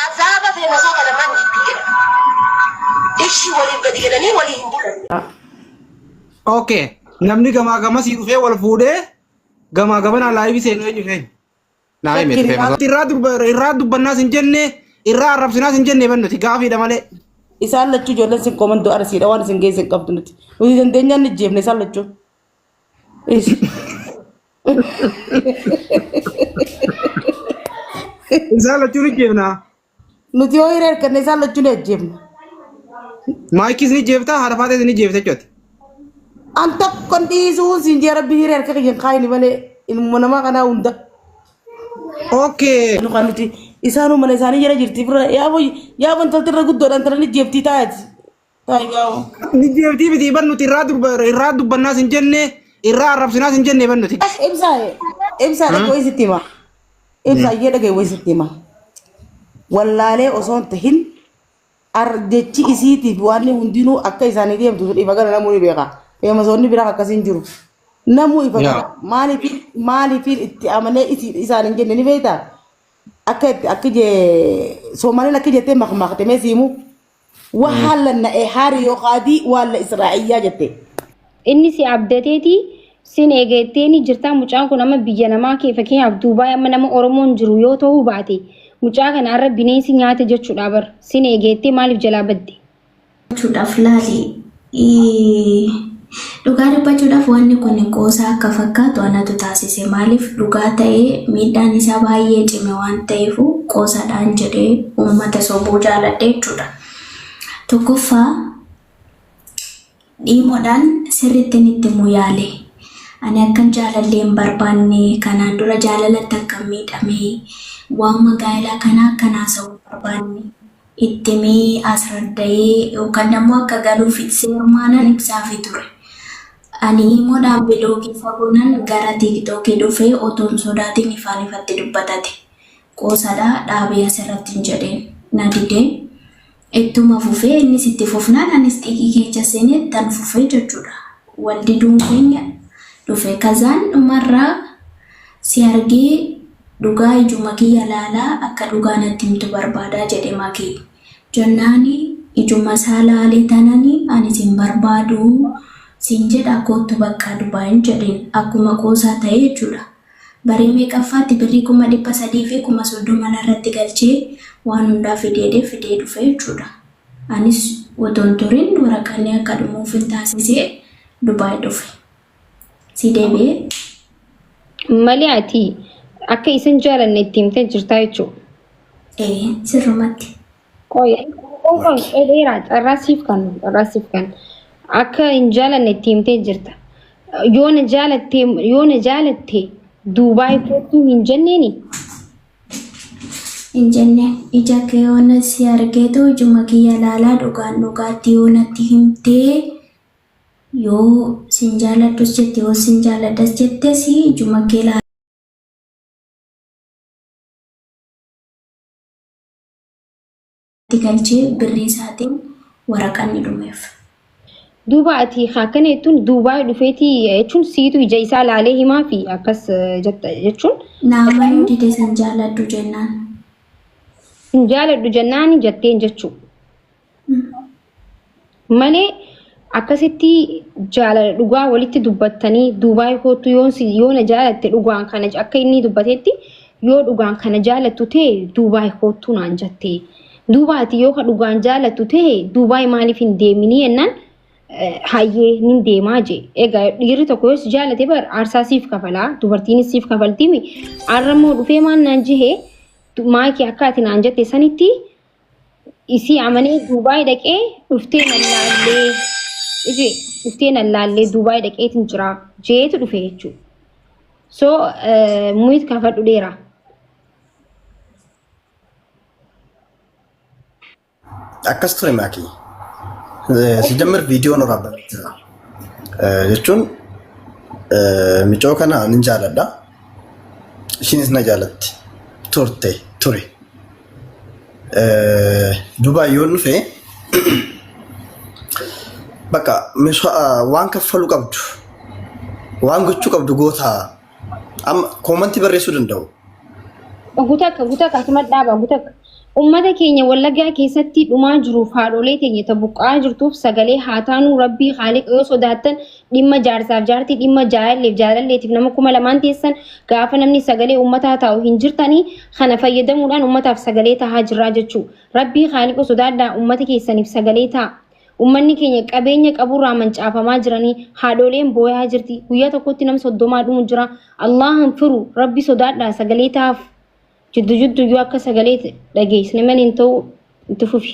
Azaaba fi gosoota lamaan jidduu jedhama. Ishii waliin gadi galanii walii hin bulan. Okay. Namni gamaa gamasii dhufee wal fuudhee gamaa gamanaa laayivii seenuu eenyu keenya? Naa hime dhufee masoo. Irraa durba- irraa dubbannaas hin jenne irraa arrabsinaas hin jenne bannuti gaafiidha malee. Isaan lachuu ijoolleen sin komando arsiidha waan isin geessan qabdu nuti. Nuti dandeenyaan ni jeefne isaan lachuu. Isaan lachuu ni jeefnaa. Nuti yoo hiriira arganne isaan lachuu ni ajjeefna. Maayikis ni jeeftaa haadha faatees ni jeefta jechuudha. An tokkon dhiisuun siin jee rabbi hiriira harka kiyyan kaayini malee ilmuma namaa kanaa hunda. Okay. Nu kan nuti isaanuu mana isaanii jala jirti bira yaa boy yaa bontolti irra guddoodhaan tana ni jeeftii taa'eeti. Taayigaa'oo. Ni deebtii miti ban nuti irraa durba irraa dubbannaas hin jenne irraa arrabsinaas hin jenne ban nuti. Ibsaa ibsaa dhagee wayii sitti hima. Ibsaa iyyee dhagee wayii sitti hima. Wallaalee osoo hin tahin ar- jechi isiitiif waan inni hundinuu akka isaanii deemtu sun ifa gala namuu ni beeka. Feemasoonni biraa akkasii hin jiru. Namuu ifa Yaa. gala. Maaliif maaliif itti amanee isi- isaan hin jenne ni beektaa? Akka itti akka jee Soomaaliin akka jettee makmaakte mee siimu. Wahaallan na'ee haari yoo qaadii waalla Israa'iyyaa jette. Inni si abdateeti sin eega jetteeni jirtaa mucaan kun amma biyya namaa kee fakkeenyaaf Duubaay amma nama Oromoon jiru yoo ta'uu baate mucaa kana arra bineensi nyaate jechuudha bar sin eega jettee maaliif jalaa badde? Gochuudhaaf laali. Iiii. Dhugaa dubbachuudhaaf wanni kun qoosaa akka fakkaatu anatu taasise. Maaliif dhugaa ta'ee miidhaan isaa baay'ee cime waan ta'eefuu qoosaadhaan jedhee uummata sobuu jaaladhe jechuudha. Tokkoffaa dhiimoodhaan sirrittiin itti himuu yaale. Ani akkan jaalallee hin barbaanne kanaan dura jaalalatti akkan miidhame waanuma gaa'elaa kanaa akkan haasa'u hin barbaanne. itti himee asraddayee yookan ammoo akka galuuf seermaanan ibsaafi ture. Ani iimodhaan bilookii fagonan gara tiiktookii dhufee otoo hin sodaatin ifaan ifatti dubbatate. Qoosadha dhaabii asirratti hin jedhin. Na dide. Ittuma fufee innis itti fufnaan anis xiiqii keecha seenee ittan fufee jechuudha. Wal diduun keenya dhufe. Kazaan dhumarraa Si argee dhugaa ijuma kiyya laalaa akka dhugaa natti himtu barbaada jedhe Maki. Jennaani ijuma isaa laale tanani ani sin barbaadu sin jedha koottu baqqaa Dubain jedheen akkuma qoosaa tahe jechuudha. Barii meeqaffaatti birrii kuma dhibba sadii fi kuma soddoma narratti galchee waan hundaa fideedhe fidee dhufe jechuudha. Anis otoon turin waraqanni akka dhumuufin taasisee Dubai dhufe. Sii deebi'ee. Malee ati akka isin jaalanne itti himtee jirtaa jechuudha. Ee sirrumatti. Qoy, qoy, qoy dheeraa carraa siif kan carraa siif kan akka hin jaalanne itti himtee jirta. Yoo na jaalatte yoo na jaalatte Duubaay kootuu hin jenneeni. Hin jenneen ija kee yoona si argeetu ijuma kiyya laalaa dhugaan dhugaatti yoonatti himtee Yoo sin jaaladhus jette yoo sin jaaladhas jette si juma kee laala. itti galchee birrii isaatiin waraqaan ni dhumeef. Duuba ati ka akkana jettuun Duubaay dhufeeti jechuun siitu ija isaa laalee himaa fi akkas eh, jetta jechuun Naama yoo dide sin jaaladhu jennaan. hin jaaladhu jennaan jetteen jechuu. malee akkasitti jaalala dhugaa walitti dubbattanii duubaay kootu yoon si yoona jaalatte dhugaan kana ja- akka inni dubbatetti yoo dhugaan kana jaalattu ta'e duubaay kootu naan jette duubaati yoo ka dhugaan jaalattu ta'e duubaay maaliif hin deeminii jennaan eh, hayyee nin deemaa jee egaa dhiirri tokko yoo si jaalate bar aarsaa siif kafalaa dubartiinis siif kafaltimi arra immoo dhufee maan naan jehee maakii akka ati naan jette sanitti isii amanee Duubaay dhaqee dhuftee nan laallee ije dhuftee nan laallee Duubaay dhaqeetiin jira jeetu dhufe jechuudha. So muyit kaafadhu dheera. Akkas ture maakii. Sijammar viidiyoon waraabame jira. Jechuun micoo kana nin jaaladha. Ishiinis na jaalatti. Turte ture. Dubaa yoo dhufe bakka waan kaffalu qabdu waan gochuu qabdu goota amma koomantii barreessuu danda'u. Gutakka gutakka asuma dhaaba gutakka. Uummata keenya wallaggaa keessatti dhumaa jiruuf haadholee teenya ta buqqa'aa jirtuuf sagalee haa taanu rabbii haaliqa yoo sodaattan dhimma jaarsaaf jaartii dhimma jaalalleef jaalalleetiif nama kuma lamaan teessan gaafa namni sagalee ummataa taa'u hin jirtanii kana fayyadamuudhaan ummataaf sagalee tahaa jirraa jechuu rabbii haaliqa sodaadhaa ummata keessaniif sagalee ta'a ummanni keenya qabeenya qaburraa mancaafamaa jiranii haadhooleen booyaa jirti guyyaa tokkotti nam soddomaa dhumu jira allahan firu rabbi sodaadhaa sagalee tahaaf jiddu jiddu yoo akka sagalee dhageessne maliin ta'u itti fufi.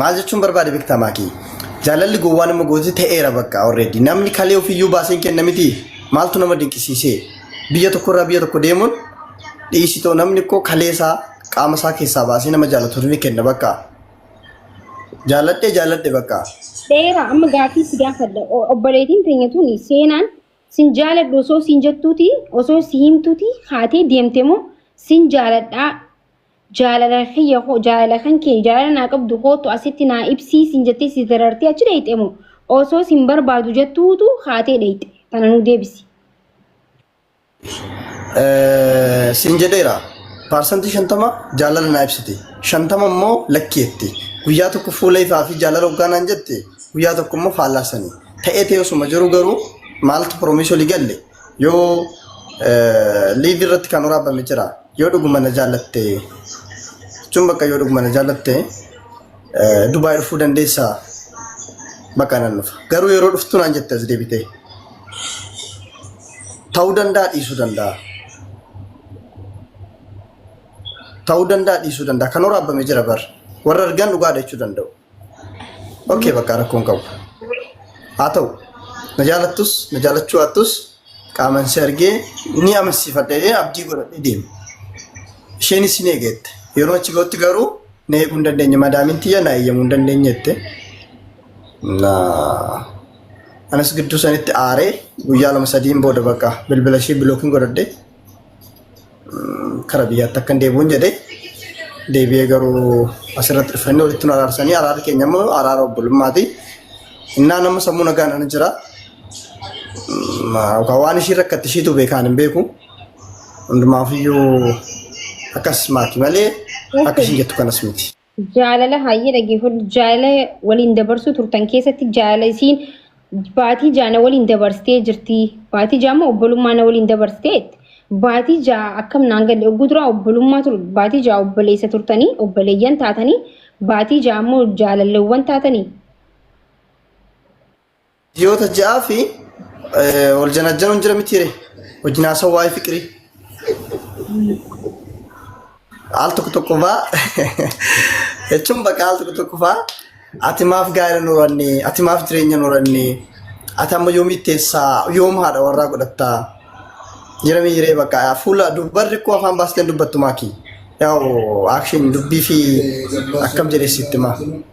Maal jechuun barbaade beektaa maakii? Jaalalli gowwaa nama goote ta'eera bakka already. Namni kalee ofiyyuu baaseen kenna miti. Maaltu nama dinqisiisee? Biyya tokkorraa biyya tokko deemuun dhiisitoo namni koo kalee isaa qaama isaa keessaa baasee nama jaalatu ni kenna bakka. Jaaladhe jaaladhe bakka. Seera amma gaaffii si gaafadha. O- Obboleettiin teenya tuni seenaan sin jaaladhu osoo sin jettuuti osoo si himtuuti haatee deemte moo sin jaaladhaa Jaalala kiyya koo jaalala kan kee jaalala naa qabdu kootu asitti naa ibsii siin jettee si darartee achi dheeyxe moo osoo siin barbaadu jettuutu kaatee dheeyxe tana nu deebisi. Eh, siin jedheera paarsantii shantama jaalala naa ibsite shantama immoo lakki jette guyyaa tokko fuula ifaa fi jaalala hoggaa naan jette guyyaa tokko immoo faallaa sanii ta'ee ta'ee osuma jiru garuu maaltu piroomiisii olii galle Yoo liivii irratti kan waraabame jira. Yoo dhuguma na jaallatte jechuun bakka yoo dhuguma na jaallatte Dubaay dhufuu dandeessaa bakka nan dhufa. Garuu yeroo dhuftu naan jette as deebitee. Ta'uu danda'a dhiisuu danda'a. Ta'uu danda'a dhiisuu danda'a. Kan waraabame jira bar. Warra argan dhugaadha jechuu danda'u. Okay bakka rakkoo hin qabu. Haa ta'u na jaalattus na jaalachuu hattus qaaman si argee ni amansiifadha jedhee abdii godhadhee deema. Isheenis ni eegeette. Yeroo achi ga'utti garuu na eeguu hin dandeenye madaamin tiyya na eeyyamuu hin dandeenye jette. Na anas gidduu sanitti aaree guyyaa lama sadiin booda bakka bilbila ishee bilookiin godhadhee kara biyyaatti akkan deebi'uun jedhe deebi'ee garuu asirratti dhufanii walitti nu araarsanii araarri keenya immoo araara obbolummaati. Innaa nama sammuu nagaan ani jira. Yookaan waan ishii rakkatti ishiitu beekaan hin beeku. Hundumaafiyyuu akkas maati malee akka ishii jettu kanas miti. Jaalala hayyee dhaggeeffadhu. Jaalala waliin dabarsuu turtan keessatti jaalala isiin baatii jaana waliin dabarsitee jirti. Baatii jaama obbolummaa na waliin dabarsitee baatii jaa akkam naan galle ogguu duraa obbolummaa ture baatii jaa obboleessa turtanii obboleeyyan taatanii baatii jaa immoo jaalalleewwan taatanii. Ji'oota ja'aa fi wal janajjanuun jira miti ree? Wajjin haasawaa waa'ee fiqirii. Al tokko tokko faa jechuun bakka al tokko tokko faa ati maaf gaa'ela nu horanne ati maaf jireenya nu horanne ati amma yoom itteessaa yoom haadha warraa godhattaa jira miti ree bakka fuula dubbarri koo afaan baasteen dubbattu maaki. Yaa'u akshin dubbii fi akkam jedhee sitti maa.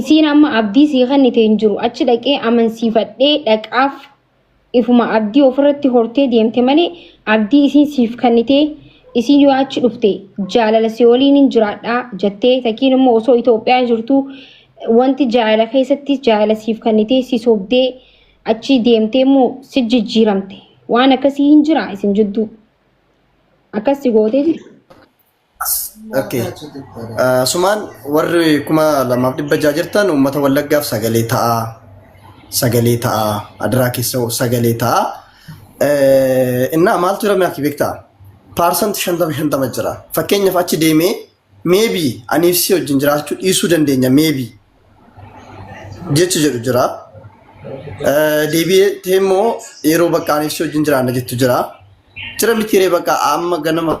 isiin amma abdii sii kennite hin jiru achi dhaqee amansiifadhee dhaqaaf ifuma abdii ofirratti hortee deemte malee abdii isiin siif kennite isiin yoo achi dhufte jaalala si waliin hin jiraadhaa jettee takiin immoo osoo Itoophiyaa jirtu wanti jaalala keessatti jaalala siif kennite si sobdee achi deemtee immoo si jijjiiramte waan akkasii hin jira isin jidduu akkasii gootee jirti. Okay. Ah, Sumaan warri kuma lamaaf dhibba ja'a jirtan uummata wallaggaaf sagalee ta'a. Sagalee ta'a. Adaraa keessa sagalee ta'a. Eh, Innaa maaltu jira mi'aakii beektaa? Paarsanti shantama shantama jira. Fakkeenyaaf achi deemee meebii aniif si wajjin jiraachuu dhiisuu dandeenya meebii jechi jedhu jira. Eh, Deebi'ee immoo yeroo bakka aniif si wajjin jiraanna jettu jira. Jira mitiiree bakka amma ganama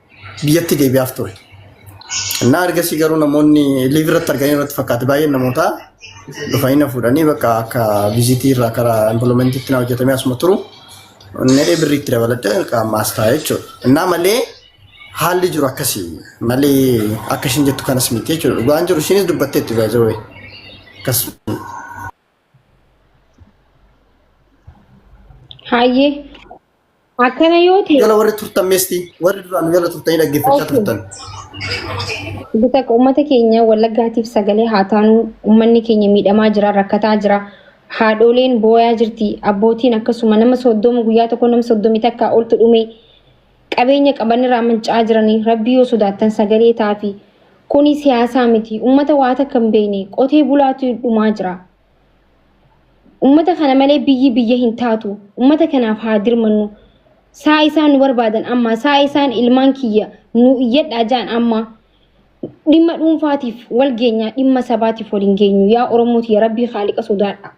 biyyatti deebi'aaf ture. Innaa ergasii garuu namoonni liiv irratti arganii irratti fakkaate baay'een namootaa dhufanii na fuudhanii bakka akka viizitii irraa karaa impiloomeentiitti na hojjetamee asuma turu nadhee birriitti dabaladhee qaamaas taa'e jechuudha. Innaa malee haalli jiru akkasii malee akka ishiin jettu kanas miti jechuudha. Dhugaan jiru ishiinis dubbatteetti baay'ee akkas Hayyee akkana yoo ta'e Jala warri turtan meestii warri duraan jala turtanii dhaggeeffachaa Okay. turtan. Bita uummata keenya wallaggaatiif sagalee haa taanu uummanni keenya miidhamaa jira rakkataa jira haadholeen booyaa jirti abbootiin akkasuma nama soddoma guyyaa tokko nama soddomi takka oltu dhume qabeenya qaban irraa manca'aa jiranii rabbii yoo sodaattan sagalee taafi kuni siyaasaa miti ummata waa takka hin beekne qotee bulaatu dhumaa jira ummata kana malee biyyi biyya hin taatu ummata kanaaf haa dirmannu saa isaan nu barbaadan amma saa isaan ilmaan kiyya nu iyyadhaa ja'an amma dhimma dhuunfaatiif wal geenyaa dhimma sabaatiif wal hin geenyu yaa oromooti ya rabbii haaliqa sodaadha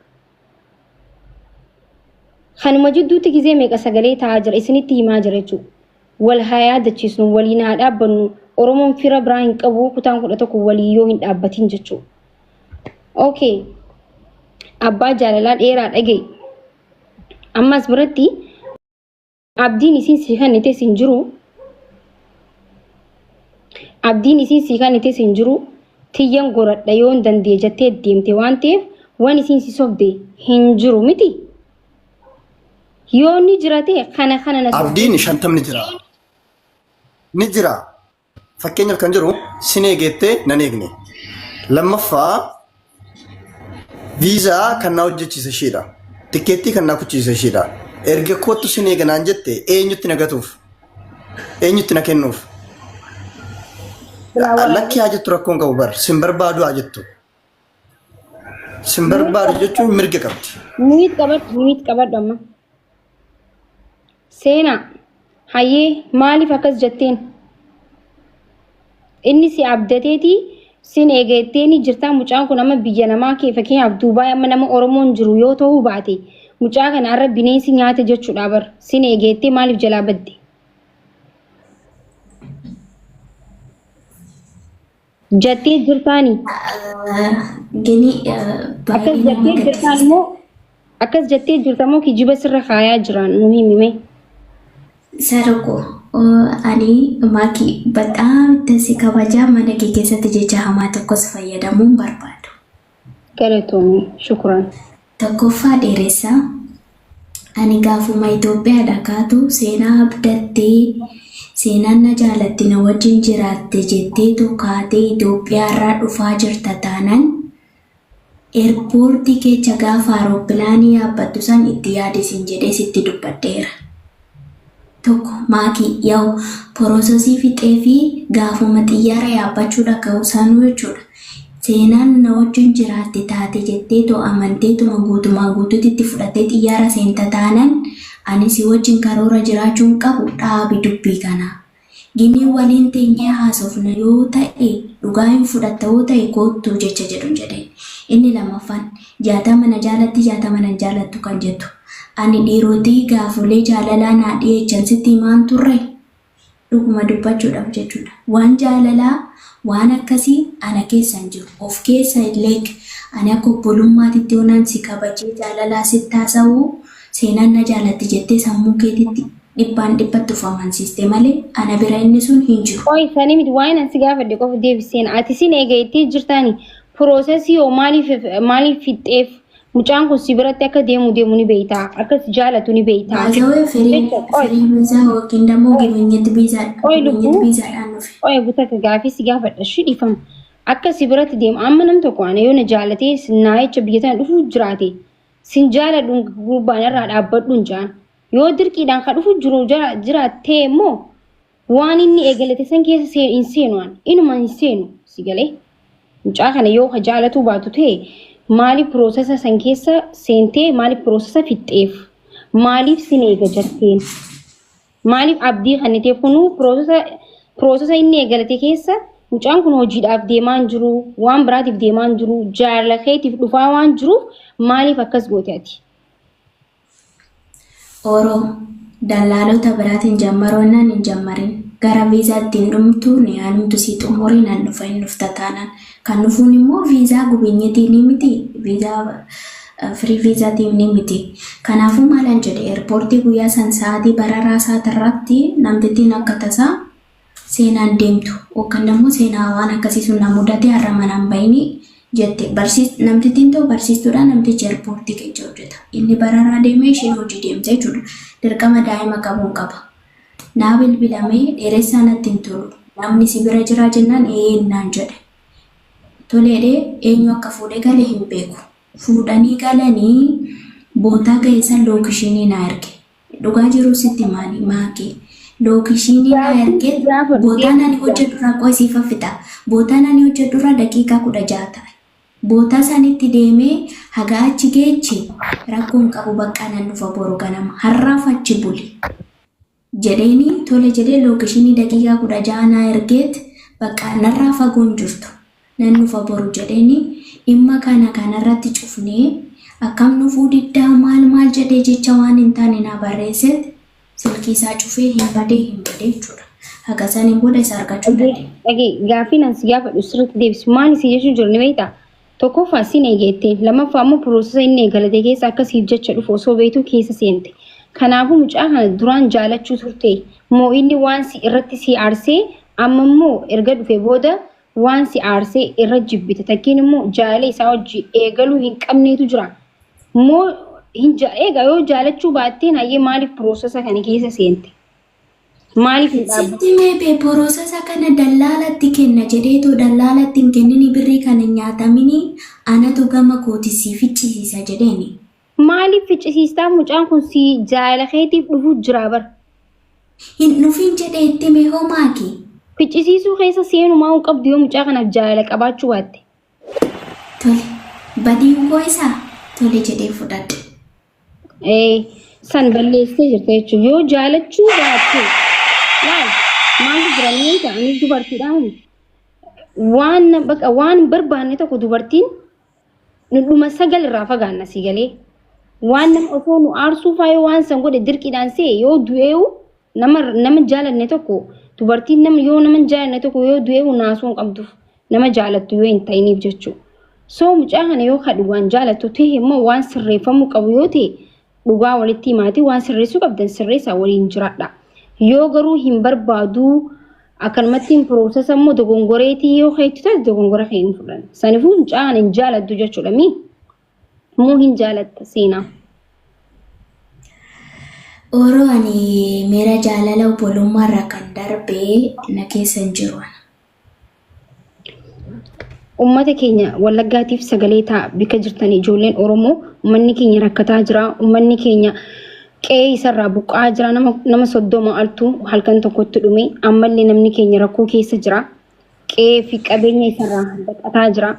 Kanuma jidduutti gizee meeqa sagalee ta'aa jira isinitti himaa jira jechuudha. Wal haa yaadachiisnu, waliin haa dhaabbannu. Oromoon fira biraa hin qabu kutaan kudha tokko walii yoo hin dhaabbatiin jechuudha. Okay. Abbaa jaalalaa dheeraa dhaga'i. Ammas biratti Abdiin isiin sii kannites hin jiru. Abdiin isiin sii kannites hin jiru. Tiyyan goradha yoon dandee jattee deemte waan ta'eef waan isiin si sobde hin jiru miti. Yoo ni jirate kana kana na sobde. Abdiin shantamni jira. Ni jira. Fakkeenyaaf kan jiru sin eegeettee nan eegne. Lammaffaa viizaa kan na hojjechiise ishiidha. Tikkeettii kan na kuchiise ishiidha. Erga koottu sin eega naan jette eenyutti na gatuuf? Eenyutti na kennuuf? Lakki haa jettu rakkoon qabu bar sin barbaadu haa jettu. Sin barbaadu jechuun mirga qabdi. Miit qabadhu, miit qabadhu amma. Seenaa, hayyee maaliif akkas jetteen? Inni si abdateeti sin eegatteeni jirtaa mucaan kun amma biyya namaa kee fakkeenyaaf Duubaay amma nama Oromoon jiru yoo ta'uu baate mucaa kana har'a bineensi nyaate jechuudha bar sin eegattee maaliif jalaa badde? Jattee jirtaani. Gini Akkas baay'ee nama jattee jirtaan gaddisiisa. moo akkas jattee jirta moo kijiba sirra kaayaa jiraan nu himime. Sarako ani maaki badhaa itti si kabajaa mana kee keessatti jecha hamaa tokkos fayyadamuun barbaadu. Galatoomi. Shukran. Tokkoffaa dheeressa. Ani gaafuma Itoophiyaadha kaatu seenaa abdattee seenaan na jaalatti na wajjin jiraatte jetteetu kaatee Itoophiyaarraa dhufaa jirta taanan eerpoortii keecha gaafa aeroppilaanii yaabbattu san itti yaadi sin jedhee sitti dubbadheera. 1 maatii yaw porososii fixee fi gaafuma xiyyaara yaabbachuu dhaga'u sanuu jechuudha seenaan na wajjin jiraatte taate jetteetoo amanteetuma guutumaa guutuutti itti fudhattee xiyyaara seenta taanan ani si wajjin karoora jiraachuun qabu dhaabi dubbii kanaa Gini waliin teenyee haasofna yoo ta'e dhugaa hin fudhatta yoo ta'e koottu jecha jedhun jedhe. Inni lammaffaan jaatama na jaalatti jaatama nan jaalattu kan jettu. Ani dhiirotii gaafolee jaalalaa naa dhiyeechan sitti himaan turre? Dhuguma dubbachuudhaf jechuudha. Waan jaalalaa waan akkasii ana keessa hin jiru. Of keessa hin leeg. Ani akka obbolummaatitti yoonaan si kabajee jaalalaa sitti haasa'u seenaan na jaalatti jettee sammuu keetitti Dhibbaan dhibbatti of amansiiste malee ana bira inni sun hin jiru. Qoy sanii miti waa'een ansi gaafadhe qofa deebiseen ati sin eega itti jirtaani piroosesii hoo maaliif maaliif fixxeef mucaan kun si biratti akka deemu deemu ni beeytaa akka si jaalatu ni beeytaa. Baazawee firii Jecha, qoy. firii biizaa yookiin dammoo Qoy. gibinyatti biizaa Qoy gibinyatti lubbuu. biizaadhaan dhufe. Qoy gutaka gaafii si gaafadha shi dhiifama akka si biratti deemu amma nam tokko ana yoo na jaalatee naayicha biyya tana dhufu jiraate sin jaaladhu gurbaan irraa dhaabbadhu hin jaan Yoo dirqiidhaan ka dhufu jiru jiraattee immoo waan inni eegalate san keessa hin seenu an inuma hin seenu si galee mucaa kana yoo ka jaalatuu baatu ta'e maaliif piroosesa san keessa seentee maaliif piroosesa fixxeef maaliif sin eega jatteen maaliif abdii kenniteef kunuu piroosesa piroosesa inni eegalate keessa mucaan kun hojiidhaaf deemaa hin jiru waan biraatiif deemaa hin jiru jaalala keetiif dhufaa waan jiruuf maaliif akkas goote ati. Oro, Dallaalota biraatiin jammaroo nan hin jammarin. Gara viizaa itti hin dhumtu ni haalumtu sii xumuree nan dhufa hin dhufta taanaan. Kan dhufuun immoo viizaa gubinyetii ni miti viizaa firii viizaatiin ni miti. Kanaafuu maalan jedhe eerpoortii guyyaa san sa'aatii bararaa isaati irratti namtittiin akka tasaa seenaan deemtu yookaan ammoo seenaa waan akkasii sun na mudate har'a mana hin bahini jette barsiis namtittiin ta'u barsiistuudha namtichi eerpoortii keessa hojjeta inni bararaa deemee isheen hojii deemte jechuudha dirqama daa'ima qabuun qaba naa bilbilamee dheeressaa natti hin tolu namni si bira jiraa jennaan eeyyee naan jedhe toleedhee eenyu akka fuudhee gale hin beeku fuudhanii galanii bootaa ga'eessan lookishinii naa erge Dhugaa jiruu sitti maali maakii lookeeshiinii naa ergee bootaan ani hojjedhurraa qoy siif haffixa bootaan ani hojjedhurraa daqiiqaa kudha ja'a ta'a bootaa isaanitti deemee hagaa achi geechi rakkoon qabu baqqaa nan dhufa boru ganama har'aaf achi buli jedheeni tole jedhee lookeeshiinii daqiiqaa kudha ja'a naa ergeet baqqaa narraa fagoon jirtu nan dhufa boru jedheni dhimma kana kanarratti cufne akkam dhufuu diddaa maal maal jedhee jecha waan hin taane naa barreesseet silkii isaa cufee hin badee hin badee jechuudha. Haga saniin booda isa argachuu hin dandeenye. Dhagee gaafiin as gaafadhu sirriitti deebisi. Maal si jechuun jiru ni beektaa? Tokkoffaa sin eegeettee lammaffaa immoo piroosesa inni eegalate keessa akka siif jecha dhufu osoo beektuu keessa seente. Kanaafuu mucaa kana duraan jaalachuu turte moo inni waan si irratti si aarsee amma immoo erga dhufe booda Waan si aarsee irra jibbite takkiin immoo jaalala isaa hojii eegaluu hin qabneetu jira. Moo hin ja eega yoo jaalachuu baattee hayyee maaliif piroosesa kana keessa seente? Maaliif hin dhaabbatte? Sitti meebee borosasa kana dallaalatti kenna jedheetoo dallaalatti hin kennini birrii kan hin nyaatamini anatu gama kooti sii ficcisiisa jedheeni. Maaliif ficcisiistaa mucaan kun si jaala keetiif dhufu jira bar. Hin dhufin jedhe itti hime hoo maaki. Ficcisiisuu keessa seenumaa hin qabdu yoo mucaa kanaaf jaalala qabaachuu baatte. Tole. Badiin koo isa tole jedhee fudhadhe. Ee, san balleessee jirta jechuun yoo jaalachuu baatte laal maaltu jira ni beekta anis dubartiidhaan waan na- baqa waan hin barbaanne tokko dubartiin Dhuma sagal irraa fagaanna si galee. Waan nama osoo nu aarsuu faayoo waan san godhe dirqiidhaan se'e yoo du'eewu nama nama jaalanne tokko dubartiin nama yoo nama jaalanne tokko yoo du'eewu naasuu hin qabduuf nama jaalattu yoo hin ta'iniif jechuudha. Soo mucaa kana yoo kadhu waan jaalattu ta'e immoo waan sirreeffamuu qabu yoo ta'e dhugaa walitti himaatii waan sirreessuu qabdan sirreessaa waliin jiraadha. Yoo garuu hin barbaaduu akkanumatti hin piroosesa immoo dogongoreetii yoo keetti taate dogongora kee hin fudhan. Sanifuu hin caan hin jaalattu jechuudha mii? Moo hin jaalatta seenaa? Oro ani miira jaalala obbolummaarraa kan darbe na keessa hin jiru ana. Uummata keenya Wallaggaatiif sagalee ta'a bika jirtan ijoolleen Oromoo uummanni keenya rakkataa jira. Uummanni keenya qe'ee isarraa buqqa'aa jira. Nama nama soddoma altu halkan tokkotti dhume. Ammallee namni keenya rakkoo keessa jira. Qe'ee fi qabeenya isarraa baqataa jira.